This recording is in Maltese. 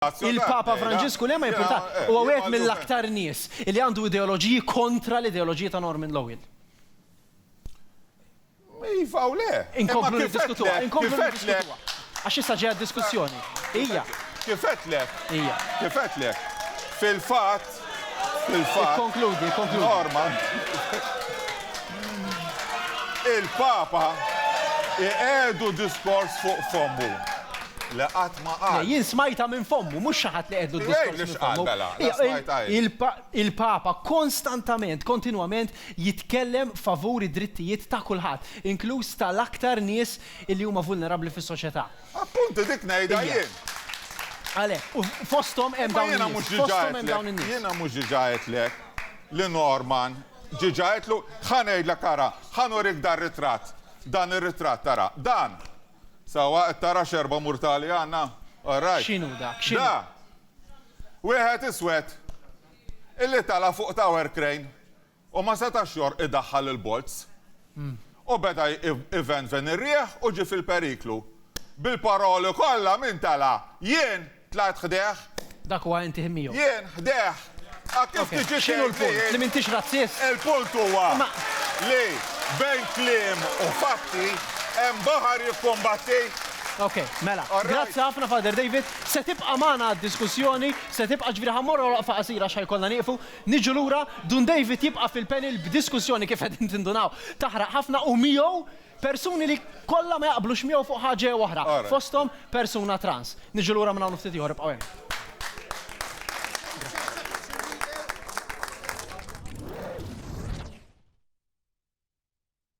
Il-Papa Franġisku le ma jimpurta, huwa wieħed mill-aktar nies li għandu ideoloġiji kontra l-ideoloġiji ta' Norman Lowell. Iva u le. Inkomplu niddiskutuha, inkomplu niddiskutuha. Għax issa ġejja diskussjoni. Hija. Kif għedtlek? Hija. Kif għedtlek? Fil-fatt, Il-Papa iqiegħdu diskors fuq fommu li qatt ma qal. Le, jien smajtha minn fommu, mhux xi ħadd li qiegħdlu d-diskors minn fommu. Jgħidli x'qal, mela, smajtha hi. Il-Papa konstantament, kontinwament jitkellem favur id-drittijiet ta' kulħadd, inkluż tal-aktar nies li huma vulnerabbli fis-soċjetà. Appuntu dik ngħidha jien. Għalhekk, u fosthom hemm dawn in-nies, fosthom hemm dawn in-nies. Jiena mhux diġà għedtlek li Norman diġà għedtlu, ħa ngħidlek ara, ħa nurik dan ritratt, dan ir-ritratt ara, dan, sewwa qed tara x'erba' murtali għandna? All right. X'inhu dak? X'inhu? Da! Wieħed iswed illi tala' fuq tower crane. U ma setax jor idaħħal il-bolz. U beda ivenven ir-riħ u ġie fil-periklu. Bil-paroli kollha min tela'? Jien! Tlajt ħdejh. Dak huwa inti ħin miegħu. Jien ħdejh. A kif tiġi tgħid li. X'inhu l-punt? Li m'intix razzist? Il-punt huwa li bejn kliem u fatti hemm baħar jikkumbatti. Ok, mela. Grazzi ħafna Father David. Se tibqa' magħna d-diskussjoni, se tibqa' ġifieri ħa mmorru għal waqfa qasira għax ħa jkollna nieqfu. Niġu lura, Dun David jibqa' fil-panel b'diskussjoni kif qegħdin tindunaw taħraq ħafna u miegħu persuni li kollha ma jaqblux miegħu fuq ħaġa jew oħra, fosthom persuna trans. Niġu lura minn hawn u ftit ieħor, ibqgħu hemm.